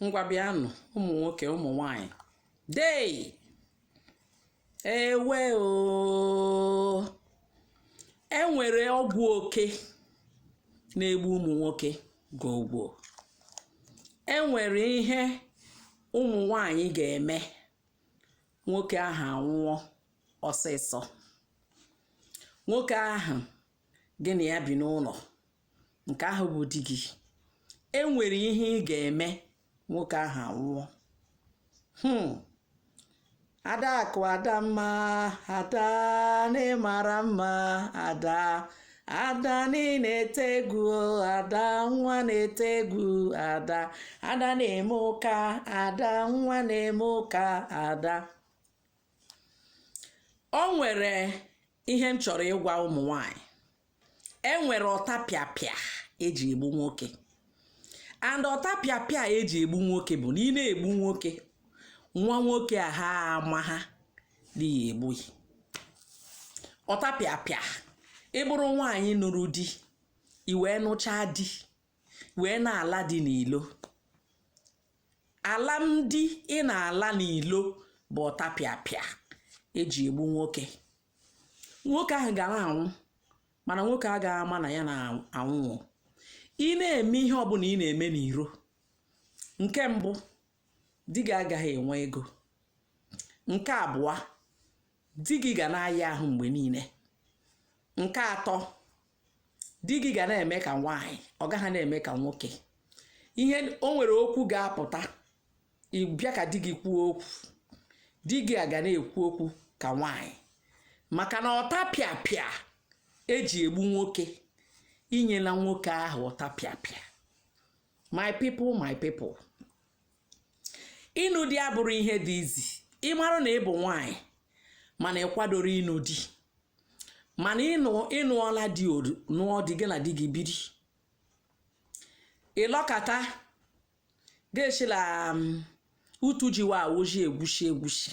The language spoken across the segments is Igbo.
ngwa bịanụ ụmụ nwoke ụmụ nwanyị ndeewo o enwere ọgwụ oke na-egbu ụmụ nwoke gogbo enwere ihe ụmụ nwanyị ga-eme nwoke ahụ anwụọ ọsịsọ nwoke ahụ gị na ya bi n'ụlọ nke ahụ bụ di gị e nwere ihe ị ga-eme nwoke ahụ anwụọ hmm. adakụ adamma ada nne mara mma ada ada na-ete egwu ada nwa na-ete egwu ada ada na-eme ụka ada nwa na-eme ụka ada o nwere ihe m chọrọ ịgwa ụmụ nwanyị e nwere ọtapịapịa eji egbu nwoke and ọtapịapịa eji egbu nwoke bụ na ị na-egbu nwoke nwa nwoke ahụ amaha na ị na-egbu ya ọtapịapịa ị bụrụ nwaanyị nụrụ di i wee nụchaa di wee na-ala di n'ilo alam di ị na-ala n'ilo bụ ọtapịapịa eji egbu nwoke nwoke ahụ ga na-anwụ mana nwoke agaghị ama na ya na-anwụ ị na-eme ihe ọbụla ị na-eme n'iro nke mbụ di gị agaghị enwe ego nke abụọ di gị ga na-aya ahụ mgbe niile nke atọ di gị ga na-eme ka nwaanyị ọ gaghị na-eme ka nwoke ihe o nwere okwu ga-apụta ị bịa ka di gị kwuo okwu di gị aga na-ekwu okwu ka nwaanyị maka na ọtapịapịa eji egbu nwoke i nyela nwoke ahụ ọtapịapịa my people my people ịnụ di abụrọ ihe dị easy ị marụ na ị bụ nwaanyị mana ị kwadoro ịnụ di mana ịnụ ị nụọla di odu nụọ di gị na di gị biri ị lọkata ga-echila um, utu jiwa awụji egwusi egwusi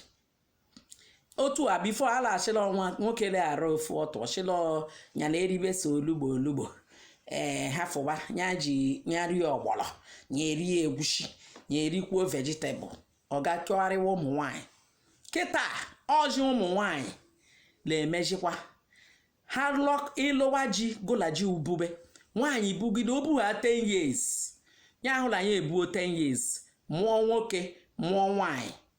otu a before a laghachila ọnwa nwoke leghara ofu ọtụ ọchịla ya na eribe so olugbo olugbo ee ha fụba ya ji ya rie ọgbọlọ ya erie egwusi ya erikwuo vegetable ọ ga-achọgharịwa ụmụ nwanyị kịta ọjị ụmụ nwanyị na-emejikwa ha ịlụwa ji gụla ji ubube nwaanyị bugide o bugha 10 years ya ahụla ya ebuo 10 years mụọ nwoke mụọ nwaanyị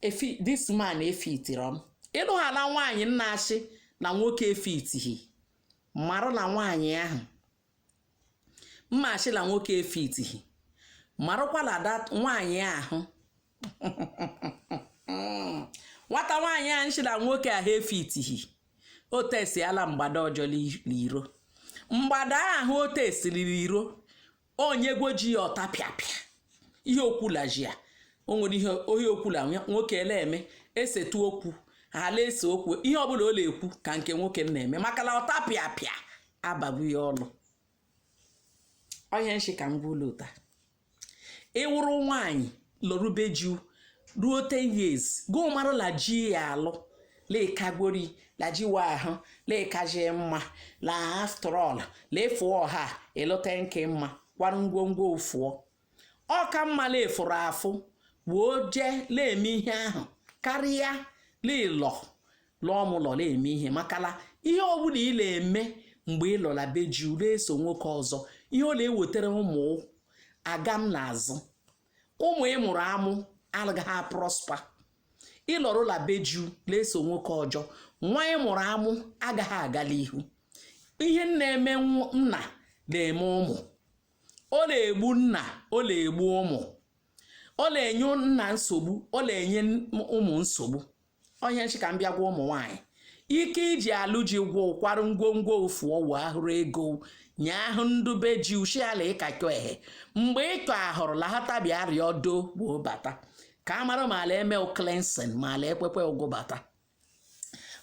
efi this man efitiri m ịnụ ha na nwaanyị na-asị na nwoke efitighị marụ na nwaanyị ahụ na-ashị na nwoke efitighị marụkwa na dat nwaanyị ahụ nwata nwaanyị ahụ nshị na nwoke ahụ efitighị o tesiala mgbada ọjọọ li- n'iro mgbada ahụ o tesiriri iro onye gwo ji ya ọta pịapịa ihe okwula ji ya o nwere ihe ohi okwula nwoke la-eme esetu okwu ala ese okwu ihe ọbụla ọ na-ekwu ka nke nwoke na-eme maka na ọta pịa pịa abagbu ya ọnụ onye nshị ka m gwa ụlụ taa ị wụrụ nwaanyị lọrụ be ju ruo 10 years gị mara la ji ya alụ lekagori la ji wa ahụ lekaji mma la after all la ị fụọ ọha ịlụta nke mma kwara ngwongwo ụ fụọ ọ ka mma la ị fụrụ afụ wee jee na-eme ihe ahụ karịa la ị lọ lụọ m lọla eme ihe maka la ihe ọbụla ị na-eme mgbe ị lọ la be ju la-eso nwoke ọzọ ihe ọ na-ewetara ụmụ agamnazụ ụmụ ị mụrụ amụ agaghị aprọspa ị lọrụ la be ju na-eso nwoke ọjọ nwa ị mụrụ amụ agaghị aga la ihu ihe na-eme nna na-eme ụmụ ọ na-egbu nna ọ na-egbu ụmụ ọ na-enye nna nsogbu ọ na-enye ụmụ nsogbu onye nshị ka m bịa gwa ụmụ nwaanyị ike iji alụ ji gwụ kwarụ ngwongwo ụ fụọ ọ wụ ahụrụ ego nye ahụ ndụ be ji u shị ala ịkakọ ehe mgbe iko ahụrụ lahatabia arịa ọdo gboo bata ka a mara ma a la-eme cleansing ma ala ekwekwe ụgwụ bata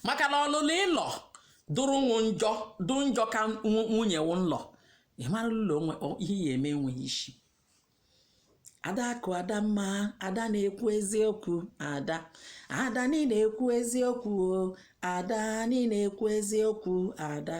maka na ọlụlụ ịlọ dụrụ nwụ njọ dụ njọ ka nwunye wụ nlọ ị mara ụlọ onwe ọ- ihe ya eme enweghị isi adaku adamma ada na-ekwu eziokwu ada ada niile ekwu eziokwu o ada niile ekwu eziokwu ada